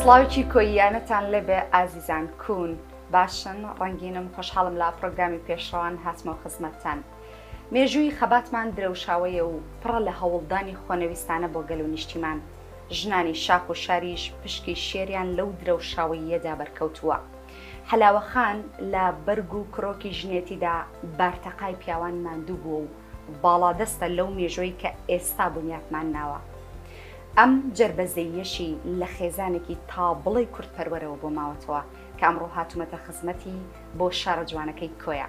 سڵاوێکی کۆییانەتان لێبێ ئازیزان کوون باشن ڕەنگینم خۆشحاڵم لا پرۆگرامی پێشڕەوان هاتمەوە خزمەتتان. مێژووی خەباتمان درەوشاوەیە و پڕە لە هەوڵدانی خۆنەویستانە بۆ گەل و نیشتیمان. ژنانی شاخ و شاریش پشکی شێریان لەو درەوشاوەییەدا بەرکەوتووە. حەلاوە خان لە بەرگ و کرۆکی ژنێتیدا بارتەقای پیاوان ماندوو بووە و باڵادەستە لەو مێژووەی کە ئێستا بنیاتمان ناوە. ئەم جەربەزەییەشی لە خێزانێکی تا بڵێی کوردپەروەرەوە بۆ ماوەتەوە کە ئەمڕۆ هاتوومەتە خزمەتی بۆ شارە جوانەکەی کۆیە.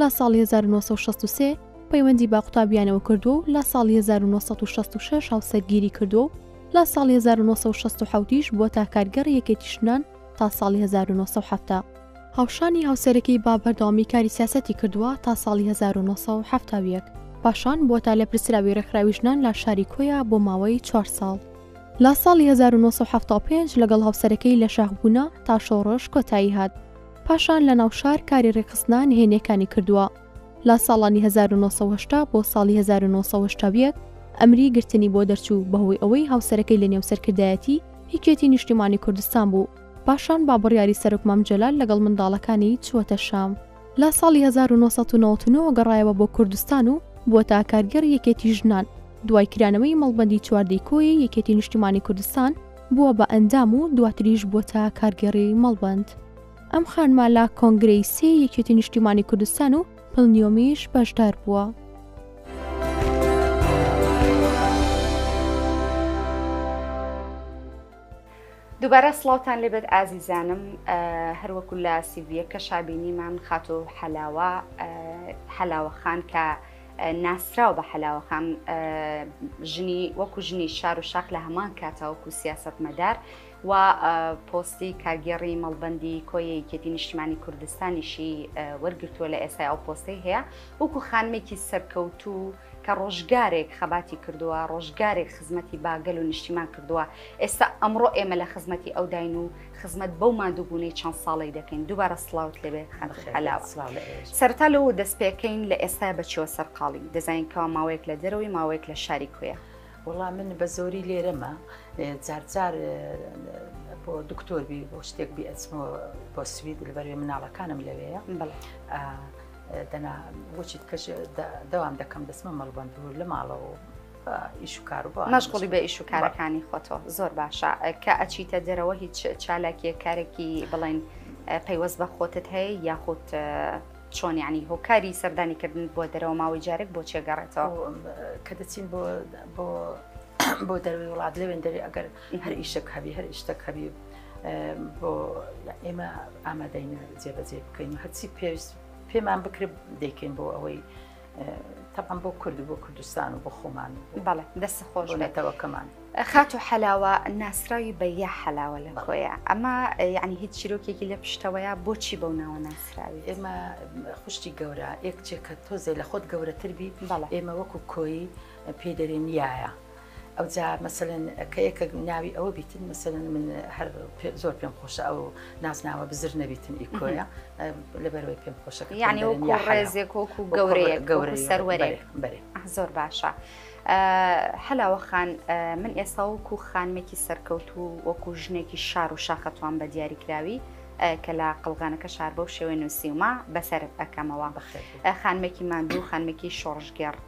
لە ساڵی هەزار و نۆ سەد و شەست و سێ پەیوەندی بە قوتابیانەوە کردووە و لە ساڵی هەزار و نۆ سەد و شەست و شەش هاوسەرگیری کردووە و لە ساڵی هەزار و نۆ سەد و شەست و حەوت یش بووەتە کارگێڕی یەکێتی ژنان تا ساڵی هەزار و نۆ سەد و حەفتا. هاوشانی هاوسەرەکەی با بەردەوامی کاری سیاسەتی کردووە تا ساڵی هەزار و نۆ سەد و حەفتا و یەک. پاشان بووەتە لێپرسراوی ڕێکخراوی ژنان لە شاری کۆیە بۆ ماوەی چوار ساڵ. لە ساڵی هەزار و نۆ سەد و حەفتا و پێنج لەگەڵ هاوسەرەکەی لە شاخ بوونە تا شۆڕش کۆتایی هات. پاشان لە ناو شار کاری ڕێکخستنە نهێنییەکانی کردووە. لە ساڵانی هەزار و نۆ سەد و هەشتا بۆ ساڵی هەزار و نۆ سەد و هەشتا و یەک ئەمری گرتنی بۆ دەرچوو بەهۆی ئەوەی هاوسەرەکەی لە نێو سەرکردایەتی یەکێتی نیشتیمانی کوردستان بوو. پاشان با بڕیاری سەرۆک مام جەلال لەگەڵ منداڵەکانی چووەتە شام. لە ساڵی هەزار و نۆ سەد و نەوەد و نۆ گەڕایەوە بۆ کوردستان و بووەتە کارگێڕی یەکێتی ژنان. دوای کرانەوەی مەڵبەندی چواردەی کۆیەی یەکێتی نیشتیمانی کوردستان، بووە بە ئەندام و دواتریش بووەتە کارگێڕی مەڵبەند. ئەم خانمە لە کۆنگرەی سێ یەکێتی نیشتیمانی کوردستان و پلنیۆمیش بەشدار بووە. دووبارە سڵاوتان لێبێت ئازیزانم هەروەکو لە سیڤیەکە شابینیمان خاتۆ حەلاوە حەلاوەخان کە ناسراو بە حەلاوەخان ژنی وەکو ژنی شار و شاخ لە هەمان کاتا وەکو سیاست مەدار و پۆستی کاگێڕی مەڵبندی کۆیەکێتی نیشتمانی کوردستانیشی وەرگتووە لە ئێسای ئەو پۆستەی هەیە وەکو خانمێکی سەرکەوتوو کە ڕۆژگارێک خەباتی کردووە ڕۆژگارێک خزمەتی باگەل و نیشتیمان کردووە ئێستا ئەمڕۆ ئێمە لە خزمەتی ئەوداین و خزمەت بەو ماندووبوونەی چەند ساڵەی دەکەین دووبارە سڵاوت لەبێ خەلاوە سەرتا لەو دەست پێکەین لە ئێستا بەچەوە سەرقاڵی دەزانینکەوا ماوەیەک لە دەرەوەی ماوەیەک لە شاری کوێە وڵام من بە زۆری لێرەمە جارجار بۆ دکتۆر بی بۆ شتێک بی ئەچمەوە بۆ سوید لەبەروێ مناڵەکانم لەوەیە دەنا بۆچیت کەش دەوام دەکەم دەسمە مەڵبند لە ماڵەوە مەشغوڵی بە ئیش و کارەکانی خۆتۆ زۆر باشە کە ئەچیتە دەرەوە هیچ چالاکیە کارێکی بڵین پەیوەست بە خۆتت هەیە یاخود چۆن ینی هۆکاری سەردانی کردن بۆ دەرەوە ماوەی جارێک بۆ چێگەڕێتەوە کە دەچین بۆ بۆ بۆ دەروی وڵات لەوێن دەری ئەگەر هەر ئیشتەک هەبی هەر ئیشتەک هەبی بۆ ئێمە ئامادەینە جێبەجێ بکەین هەرچی پێویست پێمان بکرێت دەیکەین بۆ ئەوەی تەبان بۆ کورد بۆ کوردستان و بۆ خۆمان بەڵێ دەست خۆش نەتەوەکەمان خات و حەلاوە ناسراوی بە یا حەلاوە لە خۆیە ئەمە یعنی هیچ چیرۆکێکی لە پشتەوەیە بۆچی بەو ناوە ناسراوی ئێمە خوشتی گەورە یەکچێکە تۆزێ لە خۆت گەورەتر بی بەڵ ئێمە وەکو کۆی پێدەرێن یایە ئەوجا مەسەلەن کە یەکە ناوی ئەوە بیتن مەسەلەن من هەر زۆر پێم خۆشە ئەو نازناوە بزر نەبیتن ئیکۆیە لەبەرەوەی پێم خۆشەکە یعنی وەکو ڕێزێک وەکو گەورەیە گەورە سەروەرێ بەرێ زۆر باشە. هەلاوەخان من ئێستا وەکو خانمێکی سەرکەوت و وەکو ژنێکی شار و شاخەتوان بە دیاریکراوی کە لە قلغانەکە شار بەو شێوەی نووسیومە بەسەرت ئەەکەمەوە خانمێکی ماندوو خانمێکی شۆڕژگەڕ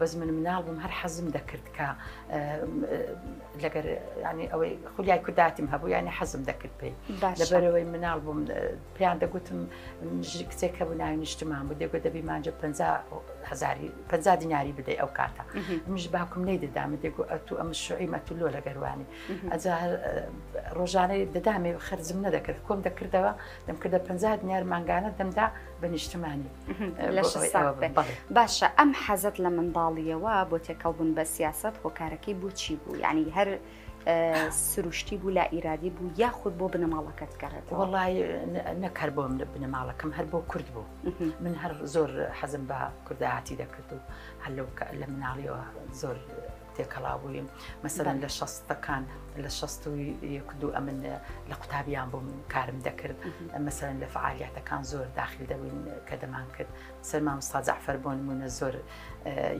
بەس من مناڵ بووم هەر حەزم دەکرد کە لەگەر ینی ئەوەی خولیای کورداتیم هەبوو ینی حەزم دەکرد پێی لەبەرەوەی مناڵ بووم پێیان دەگوتم کچێک هەبوو ناوی نیشتمان بوو دەگوت دەبی مانجە 50 دیناری بدەی ئەو کاتە منش باکم نەی دەدامە دەگو ئەتو ئەم شوعی مەتولۆ لەگەروانی ئەجا ڕۆژانەی دەدامێ خەرزم نەدەکرد کۆم دەکردەوە دەمکردە 50 دینار مانگانە دەمدا بە نیشتمانی باشە ئەم حەزت لە منداڵیەوە بۆ تێکەڵبوون بە سیاست هۆکارەکەی بۆچی بوو ینی هەر سروشتی بوو لا ئیرادی بوو یاخود بۆ بنەماڵەکەت گەڕێت وڵی نەکەر بۆ من بنەماڵەکەم هەر بۆ کورد بوو من هەر زۆر حەزم بە کوردایەتی دەکرد و هەلو لە مناڵیەوە زۆر تێکەڵاو بووین مەسەرەن لە شەستەکان لە شەست و یەک دوو ئەمن لە قوتابیان بووم کارم دەکرد مەسەرەن لە فعالیاتەکان زۆر داخل دەبووین کە دەمان کرد سەرمان سازعفەر بۆن مونە زۆر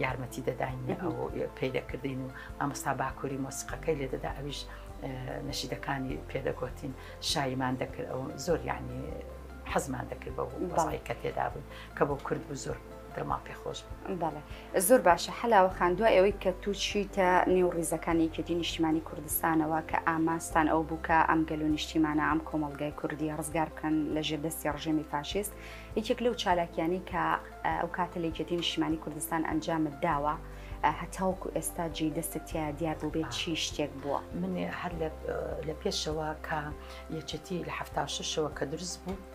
یارمەتی دەداین ئەو پێی دەکردین و ئامستا باکووری مۆسیقەکەی لێ دەدا ئەویش نەشیدەکانی پێدەگوتین شایمان دەکرد ئەو زۆر یعنی حەزمان دەکرد بە بەڵی کە تێدا بوون کە بۆ کورد بوو زۆر دڵمان پێ خۆش بەڵێ زۆر باشە حەلاوە خان دوای ئەوەی کە تو چیتە نێو ڕیزەکان یەکێتی نیشتیمانی کوردستانەوە کە ئاماستان ئەو بووکە ئەم گەل و نیشتیمانە ئەم کۆمەلگای کوردی ڕزگار بکەن لە ژێر دەستی ڕژێمی فاشیست یەکێک لەو چالاکیانی کە ئەو کاتە لە یەکێتی نیشتیمانی کوردستان ئەنجامت داوە هەتاوکو ئێستا جێ دەستت تیا دیار بوو بێت چی شتێک بووە من هەر لە پێشەوە کە یەکێتی لە هەفتاشەوە کە دروست بوو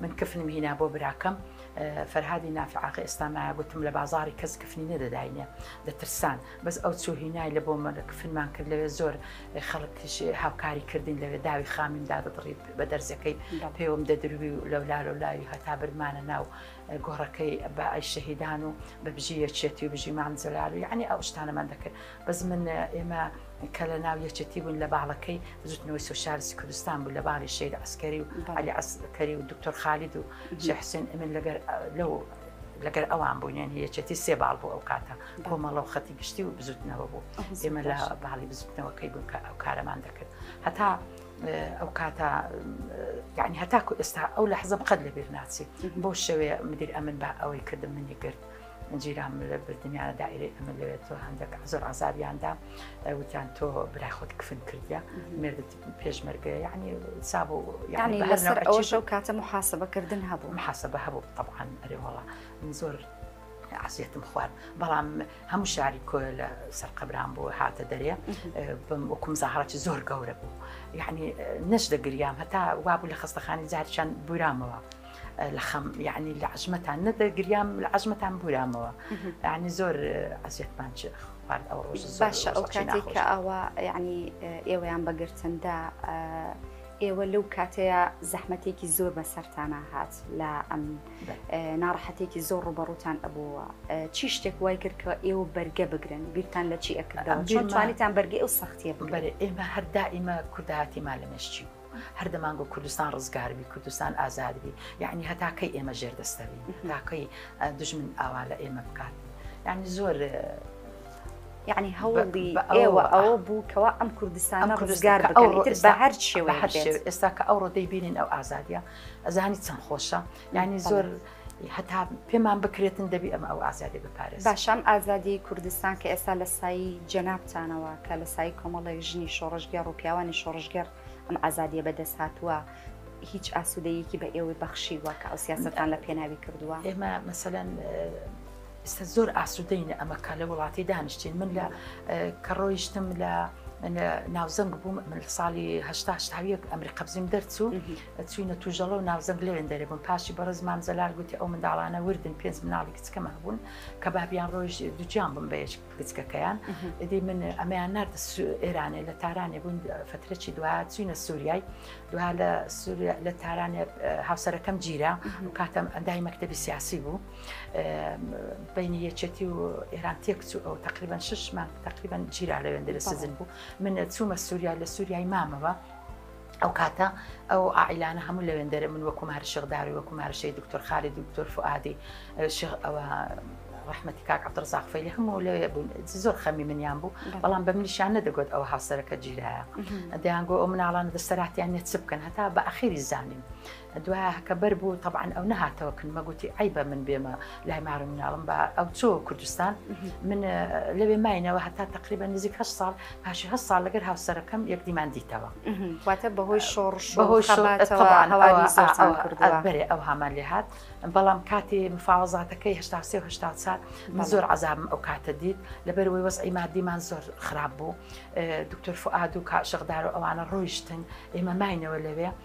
من کفنم هینا بۆ براکەم فەرهادی نافعاقی ئێستا مایە گوتم لە بازاری کەس کفنی نەدەداینێ دەترسان بەس ئەو چوو هینای لە بۆ من کفنمان کرد لەوێ زۆر خەڵکیش هاوکاری کردین لەوێ داوی خامیم دادەڕی بە دەرزەکەی پێوەم دەدروی و لەولا لە لاوی هەتا برمانە ناو گۆڕەکەی بە ئەی شەهیدان و بە بژی یەکێتی و بژی مام جەلال و یعنی ئەو شتانەمان دەکرد بەس من ئێمە کە لە ناو یەچەتی بوون لە باڵەکەی بزوتنەوەی سوسیالستی کوردستان بوو لە باڵی شیر عسکەری و علی عسکەری و دکتۆر خالید و شحسین ئەمن لەگەر لەو لەگەر ئەوان بوونێن یەچەتی سێ باڵ بوو ئەو کاتە کۆمەڵە و خەتی گشتی و بزوتنەوە بوو ئێمە لە باڵی بزوتنەوەکەی بوون کە ئەو کارەمان دەکرد هەتا ئەو کاتە یعنی هەتاکو ئێستا ئەو لە حزب قەت لە بیر ناچی بۆ شەوێ مدیر ئەمن بە ئەوەی کردم منی کرد. جیران ملە بردنیانە دایرەی ئەمە لەوێت تۆ هەندێک زۆر ئازاریاندا وتیان تۆ برای خۆت کفن کردە مردت پێشمەرگە یعنی ساب و یعنی لەسەر ئەوەشە و کاتە محاسبەکردن هەبوو محاسبە هەبوو طبعاان ئەرێواڵە من زۆر عسیەتم خوارد بەڵام هەموو شاری کۆ لە سەرقەبران بوو هاتە دەرێ بم وکم زاهڕەتی زۆر گەورە بوو یعنی نەش دەگریام هەتا وابوو لە خستەخانی جارچەند بورامەوە. لە خەم یعنی لە عژمەتان نەدەگریام لە عژمەتان بورامەوە ینی زۆر ئەزیێتمان چ خوارد ئەو ڕۆژ باشە ئەو کاتێک کە ئاوا یعنی ئێوەیان بەگرتندا ئێوە لەو کاتەیە زەحمەتێکی زۆر بە سەرتانە هات لە ئەم ناڕەحەتێکی زۆر ڕوبەڕوتان ئەبووە چی شتێک وای کرد کە ئێوە بەرگە بگرن بیرتان لە چی ئەکردەوە چۆن توانیتان بەرگی ئەو سەختیە بگەرێ ئێمە هەردا ئیمە کوردایەتیمان لە مێشتی هەر دەمانگۆت کوردستان ڕزگار بی کوردستان ئازاد بی یعنی هەتا کەی ئێمە ژێر دەستەوی تاکەی دژمن ئاوا لە ئێمە بکات یعنی زۆر یعنی هەوڵی ئێوە ئەوە بوو کەوا ئەم کوردستانە ڕزگار بە هەر شێوە هەر ئێستا کە ئەو ڕۆدەی بینین ئەو ئازادە ئەزانی چەند خۆشە یانی زۆر هەتا پێمان بکرێتن دەبی ئەم ئەو ئازادی بپارێت باشام ئازادی کوردستان کە ئێستا لە سایی جەنابتانەوە کە لە سای کۆمەڵێک ژنی شۆڕژگەر و پیاوانی شۆڕژگەر ئەم ئازادیە بەدەست هاتووە هیچ ئاسوودەیەکی بە ئێوەی بەخشیوە کە ئەو سیاستان لە پێناوی کردووە ئێمە مەسەەن ئستا زۆر ئاسوودەینە ئەمەکە لە وڵاتی دانیشتین من لە کە ڕۆیشتم لە ناوزەنگ بووم من ساڵیهشتاهاویەک ئەمری قەبزیم دەرچوو چووینە توژەڵە و ناوزەنگ لەوێن دەرێ بوون پاشی بەڕێز مام جەلال گوتی ئەو منداڵانە وردن پێنج مناڵی کچکەم هەبوون کە بابیان ڕۆژ دوجیان بم بەیش کچکەکەیان ئیدی من ئەمیان نرد ئێرانێ لە تارانێ بوون فترەی دوا چوینە سووریای دوا لە سووریا لە تارانێ هاوسەرەکەم گیرا و کاتەم ئەندای مەکتتەبی سیاسی بوو بینی یەکێتی و ئێران تێک چوو ئەو تقریبان شش مانگ تقریبان گیرا لەوێن دەێ سزن بوو من چوومە سووریا لە سووریای مامەوە ئەو کاتە ئەو ئائیلانە هەموو لەوێندەرە من وەکو ماری شغداوی وەکو مارشەی دکتۆر خالی دکتۆر فعادی ئەوە ڕحمەتی کاک عبدڕزاخفەیلی هەموو لە زۆر خەمی منیان بوو بەڵام بە منیشان نەدەگوت ئەو هاوسەرەکە جیرایە دەیانگۆ ئەو مناڵانە دەسەراتیان نێت چ بکەن هەتا بە ئەخیری زانیم دوای هەکە بەر بوو تەبعاان ئەو نەهاتەوە کن مەگوتی ئەی بە من بێمە لای مارم مناڵم بە ئەو چۆ کوردستان من لەوێ ماینەوە هەتا تقریبا نزیک هە ساڵ پاشی هە ساڵ لەگەر هاوسەرەکەم یەکدیمان دیتەوە واتە بەهۆی شۆڕش بەهۆی بەرێ ئەو هامان لێ هاات بەڵام کاتی مفاوەزاتەکەی هشتا سێ هشتا چار من زۆر عذابم ئەو کاتە دیت لەبەر وی وەز ئیمادیمان زۆر خراپ بوو دکتۆر فعاد و کا شەغدار و ئەوانە ڕۆیشتن ئێمە ماینەوە لەوێ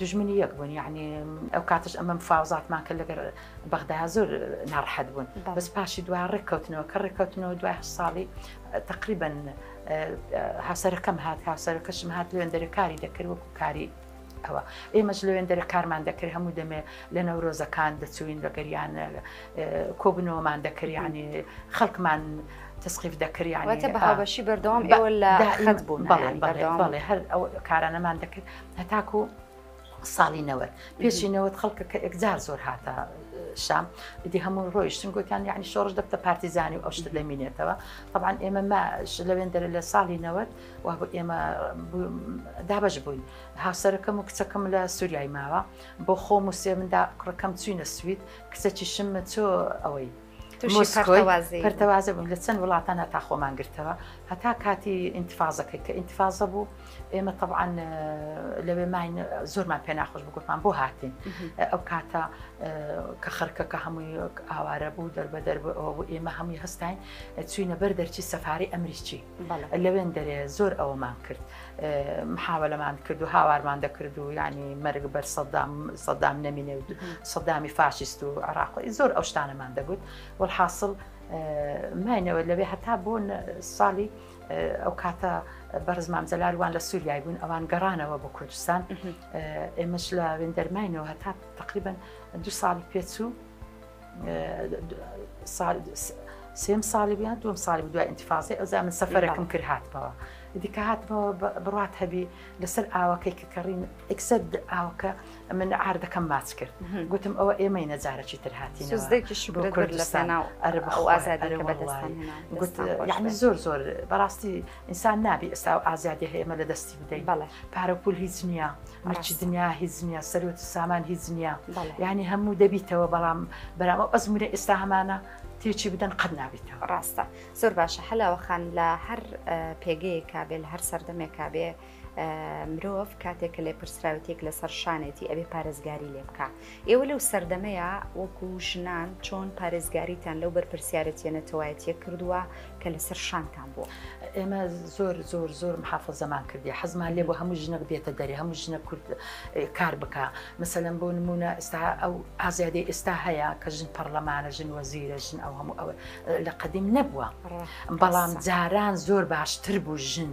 دوژمنی یەک بوون یعنی ئەو کاتش ئەمەم فاوزاتمان کە لەگەر بەغدایا زۆر ناڕحەت بوون بەس پاشی دو ڕێککەوتنەوە کە ڕێککەوتنەوە دوای ساڵی تقریبن هاسەرەکەم هات هاسەرەکەشم هات لوێندەرە کاری دەکرد وەکو کاری ئەوە ئێمەش لەوێندەرە کارمان دەکرد هەموو دەمێ لە نەورۆزەکان دەچوین لەگەریان کۆبنەوەمان دەکرد ینی خەڵکمان تسقیف دەکرد یانەتە بەهاوبەشی بەردەوام ئێوە لە خەت بوون بەڵێ بەڵێ هەر ئەو کارانەمان دەکرد هەتاکو ساڵی نەوەد پێشی نەوەد خەڵکە کە ئەکجار زۆر هاتە شام دی هەموو ڕۆیشتن گوتیان یعنی شۆڕش دەبتە پارتیزانی و ئەو شتە دەمینێتەوە طبعاان ئێمە ماش لەوێن دەرە لە ساڵی نەوەد و ئێمە دابش بووین هاوسەرەکەم و کچەکەم لە سووریای ماوە بۆ خۆم و سێمندا کوڕەکەم چوینە سوید کچەکی شممە چۆ ئەوەی مۆسکۆی پەرتەوازە بووم لە چەند وڵاتان هەتا خۆمان گرتەوە هەتا کاتی ئینتفاازەکەی کە ئینتفاازە بوو ئێمە طبعاان لەوێ ماین زۆرمان پێ ناخۆش بگوتمان بۆ هاتین ئەو کاتە کە خەرکەکە هەمووی ئاوارە بوو دەربەدەر بوو ئێمە هەمووی هەستین چوینە بەر دەرچی سەفاری ئەمریکی لەوێن دەرێ زۆر ئەوەمان کرد محاولەمان کرد و هاوارمان دەکرد و ینی مەرگ بەر سەدام سەدام نەمینێ و سەدامی فاشیست و عراقی زۆر ئەو شتانەمان دەگوت وەحاصل ماینەوە لەوێ هەتا بوون ساڵی ئەو کاتە بەرزمان جەلاروان لە سووریای بوون ئەوان گەڕانەوە بۆ کوردستان ئێمەش لە وێندەرماینەوە هەتا تقریبن دو ساڵی پێچوو سێم ساڵی بیان دوم ساڵی دوای ئینتفاازی ئەوزا من سەفەرەکەم کرد هاتمەوە دیکە هاتمەوە بڕات هەبی لەسەر ئاوەکەی کە کەڕین ئەکسەر ئاوکە من ئاردەکەم ماچ کرد گوتم ئەوە ئێمەی نەجارەکی تر هاتی کوردستان ئەرە بەخوازاری گوت یعنی زۆر زۆر بەڕاستی ئینسان نابی ئێستا ئەو ئازادی هەیە ئمە لە دەستی بدەین بەڵێ پارە پول هیچ نییە مەرچ دنیا هیچ نییە سەرۆت سامان هیچ نییە ینی هەموو دەبیتەوە بەڵام بەرام ئەو ئەزمونە ئێستا هەمانە تێچی بدەن قەت نابیتەوە ڕاستە زۆر باشە حەلاوە خان لە هەر پێگەیەکە بێ لە هەر سەردەمێکا بێ مرۆڤ کاتێک کە لێپرسراوتێک لەسەر شانێتی ئەبێ پارێزگاری لێ بکە ئێوە لەو سەردەمەیە وەکو ژنان چۆن پارێزگاریتان لەو بەرپرسیارەتە نەتەوایەتە کردووە کە لەسەر شانتان بووە ئێمە زۆر زۆر زۆر محافە زەمان کردی حەزمان لێ بۆ هەموو ژنە بێتە دەری هەموو ژنە کورد کار بکە مەسەلەن بۆ نمونە ئستا ئەو ئازادی ئێستا هەیە کە ژن پەرلەمانە ژن وەزیرە ژن ئەو هەموو ئەوە لە قدیم نەبووە بەڵام جاران زۆر باشتر بوو ژن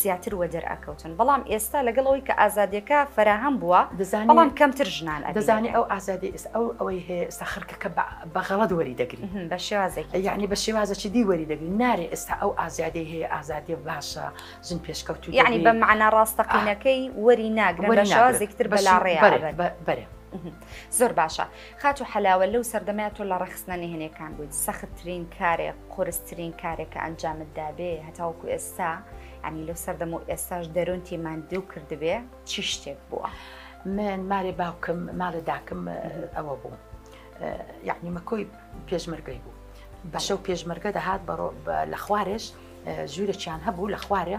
زیاتر وەدەر ئەکەوتن بەڵام ئێستا لەگەڵ ئەوەی کە ئازادیەکە فەراهەم بووە دەزانی بەڵام کەمتر ژنان ئەبینی دەزانی ئەو ئازادی ئێستا ئەو ئەوەی هەیە ئێستا خەرکەکە بە غەڵەت وەری دەگری بە شێوازێکی یعنی بە شێوازەکی دی وەری دەگری نارێ ئێستا ئەو ئازادی هەیە ئازادی باشە ژن پێشکەوتوی یعنی بە معنا ڕاستەقینەکەی وەری ناگرن بە شێوازێکتر بەلاڕێ بەرێ بەرێ زۆر باشە خاتو حەلاوە لەو سەردەمەیە تۆ لە ڕەخستنە نهێنێکان بوویت سەختترین کارێک قورسترین کارێک کە ئەنجامت دابێ هەتاوەکو ئێستا ینی لەو سەردەم و ئێستاش دەرونتی ماندوو کردبێ چی شتێک بووە من مارێ باوکم ماڵێ داکم ئەوە بوو یعنی مەکۆی پێشمەرگەی بوو بەشە و پێشمەرگە دەهات بەڕۆ لە خوارێش ژوورێکیان هەبوو لە خوارێ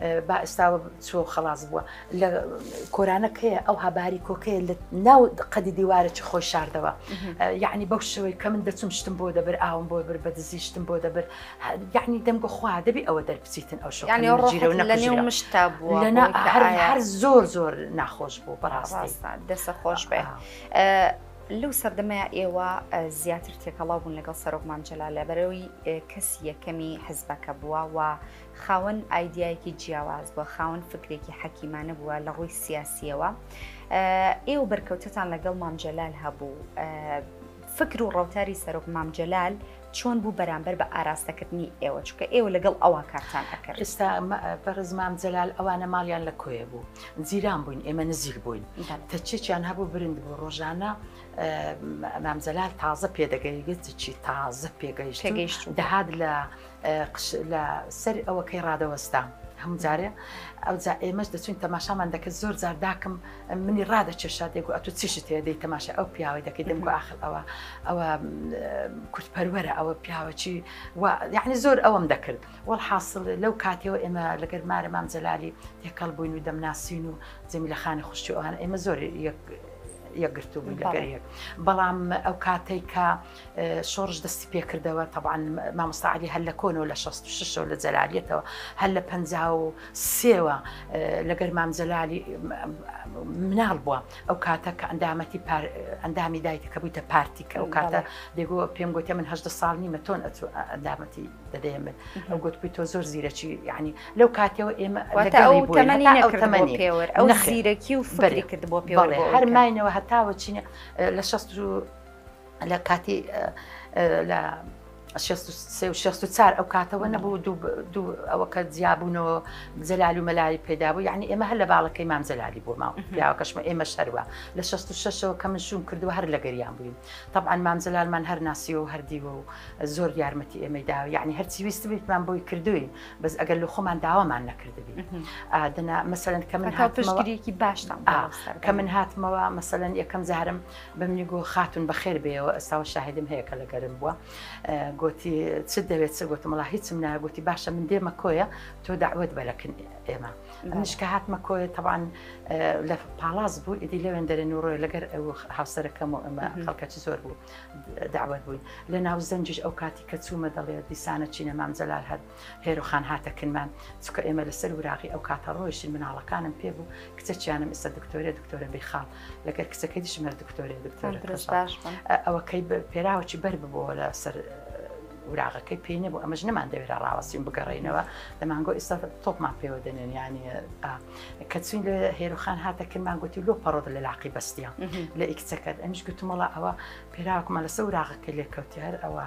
با ئێستاوە چۆ خلاص بووە لە کۆرانەکەی ئەوها باری کۆکەیە لە ناو قەدی دیوارە چ خۆی شاردەوە یعنی بەو شوی کە من دەچم شتم بۆ دەبر ئاوم بۆ بر بە دزی شتم بۆ دەبر یعنی دەمگە خوا دەبی ئەوە دەربچیتن ئەو شو مشتا بووە هەر زۆر زۆر ناخۆش بوو بەڕاستان دەسە خۆش بێ. لەو سەردەمەیە ئێوە زیاتر تێکەڵاو بوون لەگەڵ سەرۆک مامجللا لە بەرەوەی کەسی یەکەمی حزبەکە بووە و خاوەن ئایدیایەکی جیاواز بووە، خاوەن فکرێکی حەکیمانە بووە لە ڕووی سیاسیەوە. ئێوە بەرکەوتتان لەگەڵ مام جەلال هەبوو. فکر و ڕەوتاری سەرۆک مام جەلال چۆن بوو بەرامبەر بە ئاراستەکردنی ئێوە چکە ئێوە لەگەڵ ئەوە کارتان ئەکرد ئستا بەڕزمام جەلال ئەوانە ماڵیان لە کۆیە بوو جیران بووین ئێمە نزیک بووین تەچێکیان هەبوو برند بوو ڕۆژانە مام جەلال تازە پێدەگەیگەت چی تازە پێگەیشتگەیشت دەهات لە قژ لە سەر ئەوەکەی ڕادەوەستا هەموو جارێ ئەو جا ئێمەش دەچوین تەماشامان دەکرد زۆر جار داکم منی ڕادەکێشا دێگو ئەتو چیشت هەیە دەی تەماشا ئەو پیاوەی دەکەی دەمگو ئاخر ئەوە ئەوە کورتپەروەرە ئەوە پیاوەچی یعنی زۆر ئەوەم دەکرد وەڵ حاصل لەو کاتەوە ئێمە لەگەر مارە مام جەلالی تێکەڵ بووین و دەمناسین و جەمی لە خانی خوشتی ئەوان ئێمە زۆر یەک یەکگرتو بووین لەگەر یەک بەڵام ئەو کاتێک کە شۆڕش دەستی پێکردەوە تەبان مامۆستا علی هەر لە کۆنەوە لە 66 لە جەلالیەتەوە هەر لە 53ەوە لەگەر مامجللالی مناڵ بووە ئەو کاتە کە ئەندامەتی ئەندامی دایتە کە بوویتە پارتی کە ئەو کاتە دەگو پێم گوتە من هەشدە ساڵ نیمە تۆن ئەندامەتی دەدەێ من ئەو گوت بووی تۆ زۆر زیرەکی ینی لەو کاتەوە ئێمە ئەو زیرەکی و فری کرد بۆ پێڵێ هەرماینەوە هەتاوە چینە لە 16 لە کاتی لە شخص و چار ئەو کاتەوە نەبوو دوو ئەوە کە جیابوونەوە جەلال و مەلای پێدابوو یعنی ئێمە هەر لە باڵەکەی مام جەلالی بۆ ماوە پیاوەکەشمە ئێمە شەروە لە 16ەوە کە من شوم کردو هەر لە گەریان بووین طبعاان مام جەلالمان هەر ناسیەوە و هەردیوە و زۆر یارمەتی ئێمەی داوە یعنی هەرچی ویست بێتمان بۆی کردوین بەس ئەگەر لە خۆمان داوامان نەکردبی دەنا مەسەن کە من هاتشتگرێکی باشتان کە من هاتمەوە مەسەن یەکەم جارم بەمنی گۆ خاتون بەخێر بێیەوە ئەساوە شاهدم هەیە کە لە گەرم بووە گۆتی چ دەوێت چ گۆتم وڵا هیچم نایە گوتی باشە من دێمە کۆیە تۆ داوت بەرەکن ئێمە منش کە هاتمە کۆیە تەوان لە پاڵاز بوو ئیدی لەوێن دەرێن و ڕۆی لەگەر ئەو هاوسەرەکەم و ئەمە خەڵکەچ زۆر بوو داوت بووین لە ناو زەنجش ئەو کاتی کە چوومە دەڵێت دیسانە چینە مام جەلال هەر هێرۆ خان هاتە کنمان چکە ئێمە لەسەر وراغی ئەو کاتە ڕۆیشتین مناڵەکانم پێ بوو کچە چیانم ئستا دکتۆرە دکتۆرە بێخاڵ لەگەر کچەکەی دشمەر دکتۆرە دکتۆر ئەوەکەی پێراوەی بەر ببووە لە سەر وراغەکەی پێی نەبوو ئەمەش نەمان دەوێرا ڕاوەستیم بگەڕینەوە دەمانگۆ ئیستا تۆپمان پێوە دەنێنیانی کەچین لە هێروخان هاتە کرمان گوتی لۆ پەڕۆدە لە لاقی بەستیان لە ئیکچەکەت ئەمیش گوتمەڵە ئەوە پێراوەکمان لەسە وراغەکە لێکەوتی هەر ئەوە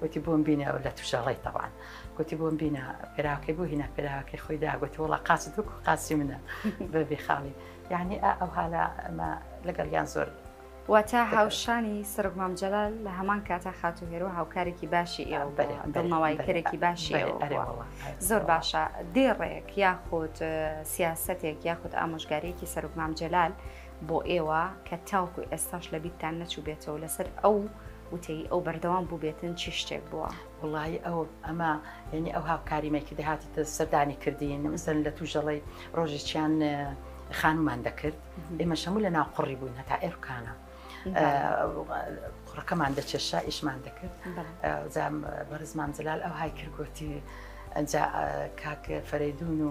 گوتی بۆم بینە و لە تووشەڵی تەوان گوتی بۆم بینە پێراکەی بۆ هینا پێراکەی خۆی داگوتی وڵا قاچ دوک و قاچی منە بەبی خاڵی یعنی ئەو هالا ئەمە لەگەڵ یان زۆر واتە هاوشانی سرک مامجلال لە هەمان کاتا خاتو هێرو هاوکارێکی باشی ئێوە دڵنەوەی کەرێکی باشی زۆر باشە دێڕێک یاخود سیاستێک یاخود ئامۆژگارێکی سەرک مامجلال بۆ ئێوە کە تاوکو ئێستاش لە بیتتان نەچوو بێتەوە لەسەر ئەو وتەی ئەو بەردەوام بووبێتن چی شتێک بووە؟ وڵی ئەو ئەمە یعنی ئەو هاوکاریمێکی دەهاتی سەردانی کردین مەسەن لە توژەڵی ڕۆژێکیان خانومان دەکرد ئێمە شەموو لە ناو قڕی بووین هەتا ئێرکانە. قڕەکەمان دەچێشا ئیشمان دەکرد زام بەرزمان جلال ئەو های کردگوتی ئەجا کاک فەرەیدون و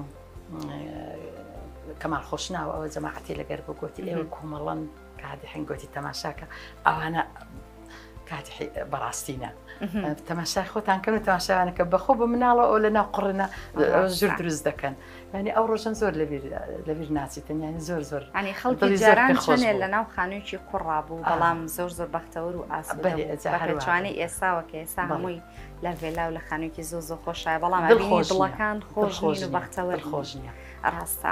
کەمال خۆشناوە ئەوە جەماعەتی لەگەر بۆ گوتی ئێوە کۆمەڵەن کاتی حنگ گوتی تەماشاکە ئەوانە کاتی بەڕاستینە تەماشای خۆتان کەن و تەماشاوانەکە بەخۆ بە مناڵە ئەو لە ناو قڕنە ژور دروست دەکەن ینی ئەو ڕۆژن زۆر لەبیر لەبیر ناچیتن ینی زۆر زۆر ینی خەڵکی جاران خۆێ لە ناو خانوویی قڕا بوو بەڵام زۆر زۆر بەختەوەر و ئاسوانەی ئێساوە کە ئێسا هەمووی لە ڤێلا و لە خانوویی زۆ زۆ خۆشایە بەڵام دڵەکان خۆش خۆش و بەختەوەر خۆش نیە ڕاستە.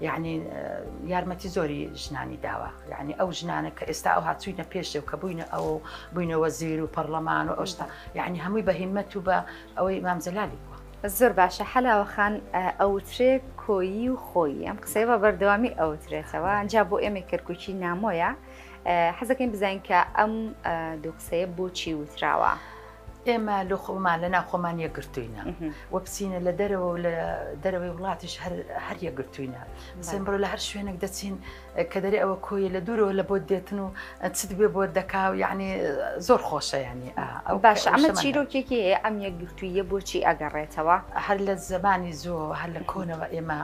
یەعنی یارمەتی زۆری ژنانی داوە یعنی ئەو ژنانە کە ئێستا ئەو هاچوینە پێشێ و کە بووینە ئەو بووینەوە زیر و پەرلەمان و ئەوشتا یعنی هەمووی بە هیمەت و بە ئەوەی مامزەلالی بووە زۆر باشە حەلاوەخان ئەوترێ کۆیی و خۆی ئەم قسەی بە بەردەوامی ئەوترێتەوە ئەجا بۆ ئێمە کەرکوچی نامۆیە حەزەکەین بزانین کە ئەم دوو قسەیە بۆچی وتراوە. ئێمە لۆ خۆمان لە ناوخۆمان یەکگرتووینە وە بچینە لە دەرەوە لە دەرەوەی وڵاتیش هەر یەکگرتووینە سمبڕۆ لە هەر شوێنێک دەچین کە دەری ئەوە کۆیە لە دوورەوە لە بۆ دێتن و چت بێ بۆ دەکا و یعنی زۆر خۆشە ینی ئەو باش ئەمە چیرۆکێکی ئەم یەکگرتوویە بۆچی ئەگەڕێتەوە هەر لە زمانی زۆ هەر لە کۆنەوە ئێمە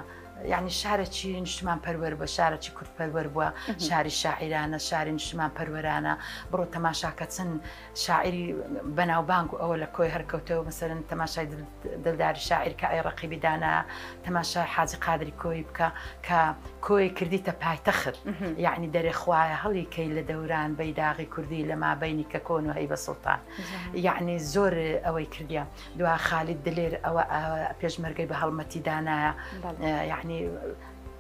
یعنی شارەکی نیشتمان پەروەەر بە شارەکی کورد پەروەەر بووە شاری شاعیرانە شاری نیشتمان پەروەرانە بڕۆ تەماشاکە چەند شاعیری بەناوبانگ و ئەوە لە کۆی هەر کەوتەوە مەسەلەن تەماشای دلداری شاعیر کە ئەی ڕەقیبی دانا تەماشای حاجی قادری کۆی بکە کە کۆی کردیتە پایتەخت یعنی دەرێ خوایە هەڵی کەی لە دەوران بەیداغی کوردی لە مابینی کە کۆن و هەی بە سوڵتان یعنی زۆر ئەوەی کردیە دوا خالی دلێر ئەوە پێشمەرگەی بە هەڵمەتی دانایە یعنی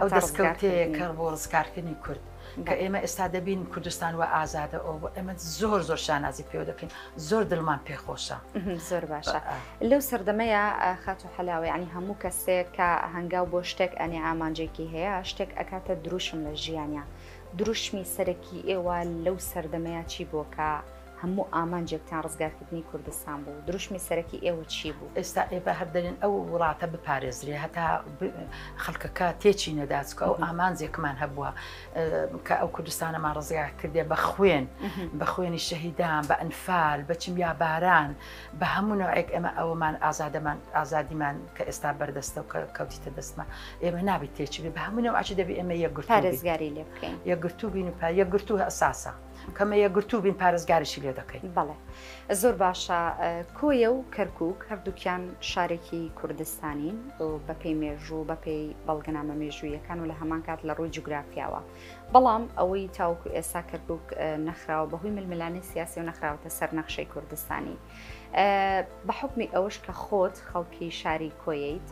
ئەو دەستکەوتەیە کە بۆ ڕزگارکردنی کورد کە ئێمە ئێستا دەبین کوردستان و ئازادە ئەو بۆ ئێمە زۆر زۆر شانازی پێوە دەکەین زۆر دڵمان پێخۆشە زۆر باشە لەو سەردەمەیە خات و حەلاوە ینی هەموو کەسێک کە هەنگاو بۆ شتێک ئەنێ ئامانجێکی هەیە شتێک ئەکاتە دروشم لە ژیانە دروشمی سەرەکی ئێوە لەو سەردەمەیە چی بۆکە هەموو ئامانجێکتان ڕزگارکردنی کوردستان بوو، دروشمی سەرەکی ئێوە چی بوو؟ ئێستا ئێبە هەر دەلێن ئەو وڵاتە بپارێزرێ هەتا خەلکەکە تێچینەدا چکە ئەو ئامانجێکمان هەبووە کە ئەو کوردستانەمان ڕزگار کردێ بە خوێن بە خوێنی شەهیدان بە ئەنفال بە کیمیاباران بە هەموو نەوەک ئێمە ئەوەمان ئازادەمان ئازادیمان کە ئێستا بەردەستە و کە کەوتیتە دەستمە ئێمە نابیت تێچبێ بە هەموو نەوەچی دەبێ ئێمە یەکگرت پارێزگاری لێ بکەین یەکگرتوو بین و پا یەکگرتوو ئەساسە. کەمە یەکگرتوو بین پارێزگاریشی لێ دەکەین. بەڵێ زۆر باشە کۆیە و کەرکک هەردووکیان شارێکی کوردستانین و بەپی مێژوو بەپی بەڵگەنامە مێژوویەکان و لە هەمان کات لە ڕووی جوگرافیاوە بەڵام ئەوەی تاوکو ئێسا کەرکک نەخراوە بەهۆی ململانی سیاسی و نەخراوەتە سەر نەخشەی کوردستانی بە حکمی ئەوش کە خۆت خەڵکی شاری کۆیت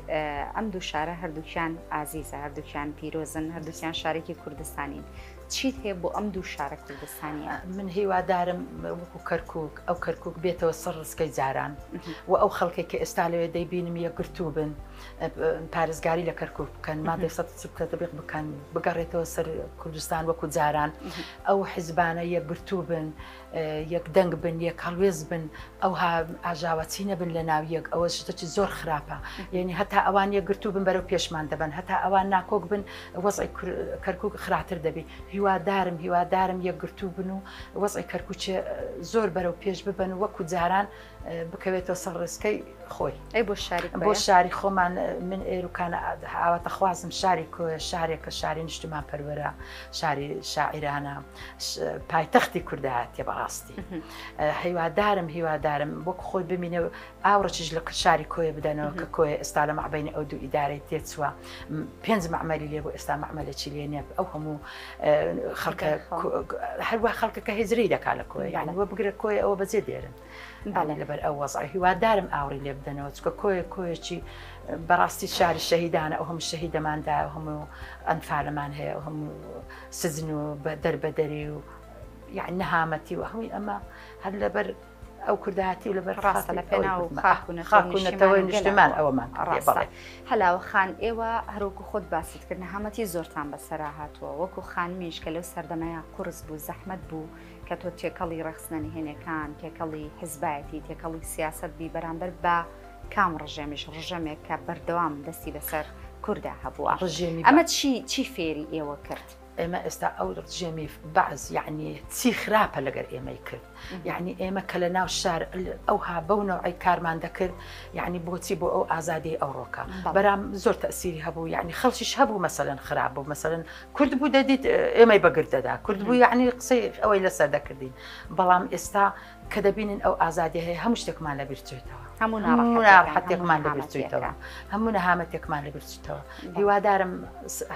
ئەم دوو شارە هەردووکیان ئازیزە هەردووکیان پیرۆزن هەردووکیان شارێکی کوردستانین چیت هەیە بۆ ئەم دوو شارە کوردستانیە؟ من هیوادارم وەکو کەرکوک ئەو کەرکوک بێتەوە سەر ڕسکەی جاران و ئەو خەڵکێک کە ئێستا لەوێ دەیبینم یەکگرتوو بن پارێزگاری لە کەرکوک بکەن مادە سە سکە دەبێت بکەن بگەڕێتەوە سەر کوردستان وەکو جاران ئەو حیزبانە یەکگرتوو بن یەک دەنگ بن یەک هەڵوێز بن ئەوها ئاژاوەچی نەبن لە ناو یەک ئەوە شتەکی زۆر خراپە یعنی هەتا ئەوان یەکگرتو بن بەرەو پێشمان دەبن هەتا ئەوان ناکۆک بن وەزی کەرکک خراتر دەبی هیوادارم هیوادارم یەکگرتو بن و وەزی کەرکوچێ زۆر بەرەو پێش ببن و وەکو جاران بکەوێتەوە سەر ڕێسکەی خۆی ئەی بۆ شاری بۆ شاری خۆمان من ئێروکانە ئاواتە خوازم شاری کۆە شارێکە شاری نیشتمان پەروەرە شاری شاعرانە. پایتەختی کوردایەتە بەڕاستی هیوادارم هیوادارم وەک خۆی بمینە ئاوڕچش لە شاری کۆیە بدەنەوە کە کۆی ئێستا لە مەعبین ئەو دوو ئیدارەی تێچووە پێنج معمەلی لێ بۆ ئێستا معمەلێکی لێ نیە ئەو هەموو خەڵکە هەروە خەڵکەکە هزری دەکا لە کۆی یان وە بگرە کۆی ئەوە بەجێ دێرن باڵێ لەبەر ئەو وەزای هیوادارم ئاوڕی لێ بدەنەوە چکە کۆیە کۆیەکی بەڕاستی شاری شەهیدانە ئەو هەموو شەهیدەماندا هەموو ئەنفالەمان هەیە هەموو سجن و دەربەدەری و یعنی نەهامەتی و هەمووی ئەمە هەر لەبەر ئەو کوردایەتی و لەبەر ڕاستە لە پێنا و خاکوونەتەوەی نیشتمان ئەوەمان ڕێبڵێ هەلاوە خان ئێوە هەروکو خۆت باست کردن هەمەتی زۆرتان بەسەرا هاتووە وەکو خانمیش کە لەو سەردەمەیە قرس بوو زەحمت بوو کە تۆ تێکەڵی ڕخسنە نهێنەکان تێکەڵی حزبایەتی تێکەڵی سیاست بی بەرامبەر بە کام ڕژێمیش ڕژێمێک کە بەردەوام دەستی بەسەر کوردا هەبووە ڕژێمی ئەمە چی چی فێری ئێوە کرد ئێمە ئێستا ئەو ڕژێمی بەعز یعنی چی خراپە لەگەر ئێمەی کرد یعنی ئێمە کە لە ناو شار ئەوها بەو نەوەی کارمان دەکرد یعنی بۆچی بۆ ئەو ئازادی ئەو ڕۆکە بەرام زۆر تەسیری هەبوو یعنی خەڵکیش هەبوو مەسەن خراپ بوو مەسەن کورد بوو دەدیت ئێمەی بەگردەدا کورد بوو یعنی قسەی ئەوەی لەسەر دەکردین بەڵام ئێستا کە دەبینن ئەو ئازادی هەیە هەموو شتێکمان لە بیرچێتەوە هەموو ناڕەحەتێکمان لە بیرچێتەوە هەموو نەهامەتێکمان لە بیرچێتەوە هیوادارم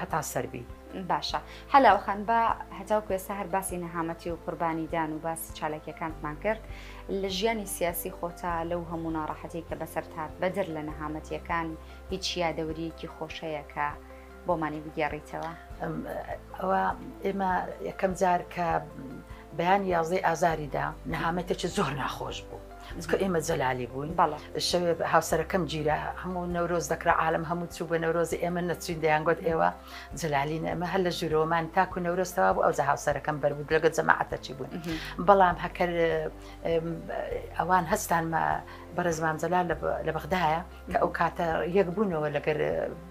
هەتا سەربی باشە حەلاوەخان بە هەتاو کوێسە هەر باسی نەهامەتی و قوربانیدان و باس چالاکیەکانتمان کرد لە ژیانی سیاسی خۆتا لەو هەموو ناڕەحەتی کە بەسەر هاات بەدر لە نەهامەتیەکان هیچ یادەوریەکی خۆشەیەکە بۆمانی بگێڕیتەوە ئەوە ئێمە یەکەم جار کە بەیان یازدەی ئازاریدا نەهامەتێکی زۆر ناخۆش بوو چکە ئێمە جەلالی بووین بەڵە شەوێ هاوسەرەکەم گیرە هەموو نەورۆز دەکرا عالم هەموو چوو بە نەورۆزی ئێمە نەچین دەیانگوت ئێوە جەلالی نەمە هەر لە ژورۆمان تاکو نەورۆستەوە بوو ئەو جە هاوسەرەکەم بەربوو لەگە جەماعەتەچی بوون بەڵام هەکەر ئەوان هەستانمە بەڕێزمان جەلال لە بەغدایە کە ئەو کاتە یەک بوونەوە لەگەر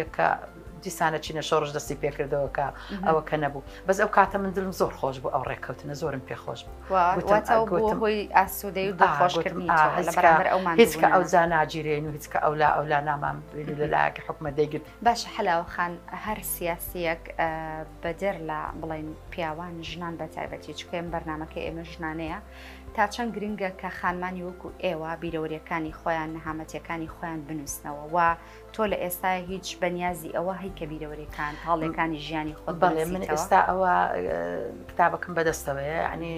یەکە دیسانە چینە شۆڕش دەستی پێکردەوە کە ئەوە کە نەبوو بەس ئەو کاتە من دلم زۆر خۆش بوو ئەو ڕێککەوتنە زۆرم پێ خۆش هیچکە ئەو جا ناگیرێن و هیچکە ئەو لا ئەو لا نامان لە لایەکە حکومە دەیگرت باش حەلاوەخان هەر سیاسیەک بەدەر لە بڵین پیاوان ژنان بە تایبەتی چکەم بەرنمەکە ئێمە ژنانەیە تا چەند گرنگە کە خانمانی وەکو ئێوە بیرەوەریەکانی خۆیان نەهامەتەکانی خۆیان بنووسنەوە و تۆ لە ئێستا هیچ بەنیازی ئەوە هەی کە بیرەوەرێکان تاڵێکانی ژیانی خۆ بەڵێ من ئێستا ئەوە کتابەکەم بەدەستەوەیە ینی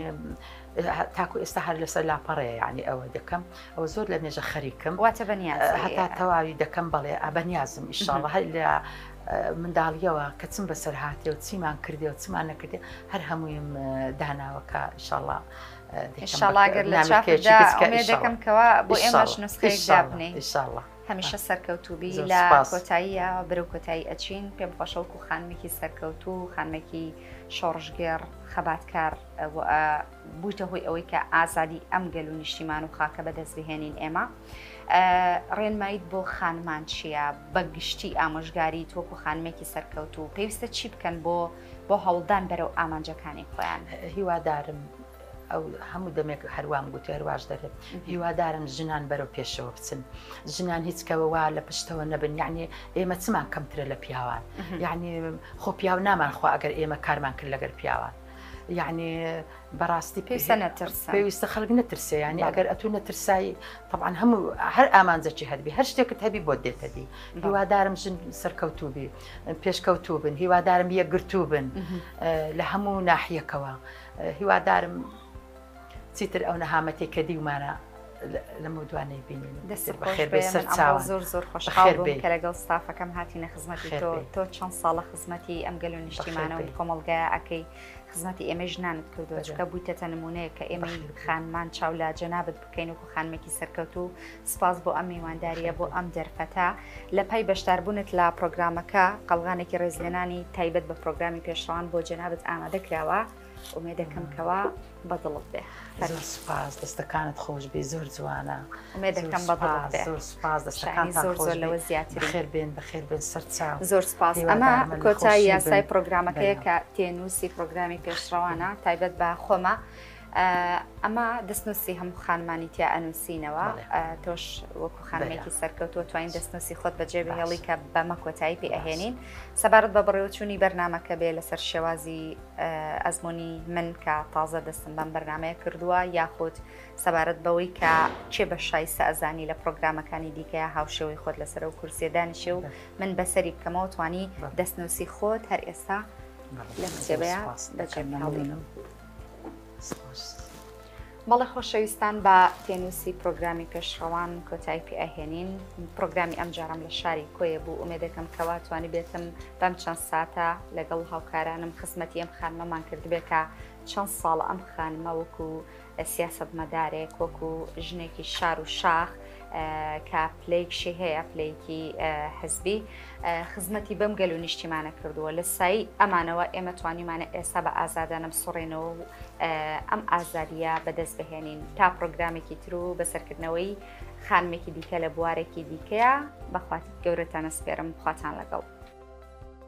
تاکو ئێستا هەر لەسەر لاپەڕێ ینی ئەوە دەکەم ئەوە زۆر لە مێژە خەریکم واتە بەنیاز هەتا تەواوی دەکەم بەڵێ ئەبەنیازم ئیشاڵە هەر لە منداڵیەوە کە چم بەسەر هااتێ و چیمان کردێ و چمان نەکردێ هەر هەموویم داناوەکە ئیشاڵە. شڵاگەر لە چاپێکێکەکەم کەوا بۆ ئێمەش نسخەیەک دابنێ. هەمیشە سەرکەوتوبی زۆر لە سوپاس. کۆتاییە بەرەو کۆتایی ئەچین پێم خۆشە وەکو خانمێکی سەرکەوتوو و خانمێکی شۆڕشگێڕ خەباتکار ئەو ئە بوویتە هۆی ئەوەی کە ئازادی ئەم گەل و نیشتیمان و خاکە بەدەست بهێنین ئێمە ئە ڕێنماییت بۆ خانمان چییە بە گشتی ئامۆژگاریت وەکو خانمێکی سەرکەوتوو پێویستە چی بکەن بۆ بۆ هەوڵدان بەرەو ئامانجەکانی خۆیان؟ هیوادارم ئەو هەموو دەمێک هەروام گوتی هەرواش دەرێت هیوادارم ژنان بەرەو پێشەوە بچن ژنان هیچ کەەوەوا لە پشتەوە نەبن یعنی ئێمە چمان کەمترە لە پیاوان یعنی خۆ پیاو نامانخوا ئەگەر ئێمە کارمان کرد لەگەر پیاوان. یعنی بەڕاستی پێویستە نەترس پێویستە خەڵک نەترسێ ینی ئەگەر ئەتو نەترسایی طبعاان هەموو هەر ئامانجەکی هەربی هەر شتێکت هەبی بۆ دێتەدی هیوادارم ژن سەرکەوتوبی پێشکەوتوبن هیوادارم یەکگرتوو بن لە هەموو ناحیەکەوە. هیوادارم چیتر ئەو نەهامەتی کە دیومانە لەمە دو نەیبینین دەست زۆر زۆر خۆشحاڵ بووم کە لەگەڵ ستافەکەم هاتیینە خزمەتی تۆ تۆ چەند ساڵە خزمەتی ئەم گەل و نیشتیمانە و کۆمەلگای ئەەکەی خزمەتی ئێمە ژنانت کردووە چکە بوویتەتە نمونەیە کە ئێمە خانمان چاولا جەنابەت کەین وەکو خانمێکی سەرکەوت و سپاس بۆ ئەم میوانداریە بۆ ئەم دەرفەتە لە پای بەشداربوونت لە پرۆگرامەکە قەلغانێکی ڕێزلێنانی تایبەت بە پرۆگرامی پێشڕان بۆ جەنابەت ئامادە کراوە ئومێ دەکەم کەوا بەدڵت بێ سپاس دەستەکانت خۆش بێ زۆر جوانە ئومێ دەکەم بە زۆر سپاس دەستەکان زۆر زۆر لەوە زیاتر خێر بێن بە خێر بێن سەرچا زۆر سپاس ئەمە کۆتای یاسای پرۆگرامەکەیە کە تێنووسی پرۆگرامی پێشڕەوانە تایبەت بە خۆمە. ئەمە دەستنووسی هەموو خانمانی تیا ئەنووسینەوە تۆش وەکو خانمێکی سەرکەوتووە توانین دەستنووسی خۆت بەجێ بهێڵی کە بەمە کۆتایی پێ ئەهێنین سەبارەت بە بەڕێوەچوونی بەرنمەکە بێ لەسەر شێوازی ئەزمموی من کە تازە دەستم بەم بەرنمەیە کردووە یاخود سەبارەت بەوەی کە چێ بە شایسە ئەزانی لە پرۆگرامەکانی دیکەیە هاوشێوەی خۆت لەسەر و کورسیەدانیشێ و من بەسەری بکەمەوە توانی دەستنووسی خۆت هەر ئێستا لە کتێبەیە بەجێ هەڵێنم. بەڵێ خۆشەویستان بە پێنووسی پرۆگرامی پێشڕەوان کۆتای پێ ئەهێنین پرۆگرامی ئەم جارم لە شاری کۆیە بوو ئومێدەکەم کەوا توانی بێتم بەم چەند ساتە لەگەڵ هاوکارانم خزمەتی ئەم خانمەمان کردبێت کە چەند ساڵ ئەم خانمە وەکو سیاست مەدارێک وەکو ژنێکی شار و شاخ کە پلەیکشی هەیە پلەیکی حزبی خزمەتی بەم گەل و نیشتیمانە کردووە لە سایی ئەمانەوە ئێمە توانیمانە ئێستا بە ئازادانە بسڕێنەوە و ئەم ئازادیە بەدەست بهێنین تا پرۆگرامێکی تر و بەسەرکردنەوەی خانمێکی دیکە لە بوارێکی دیکەیە بەخوات گەورەتانە سپێرم خواتان لەگەڵ.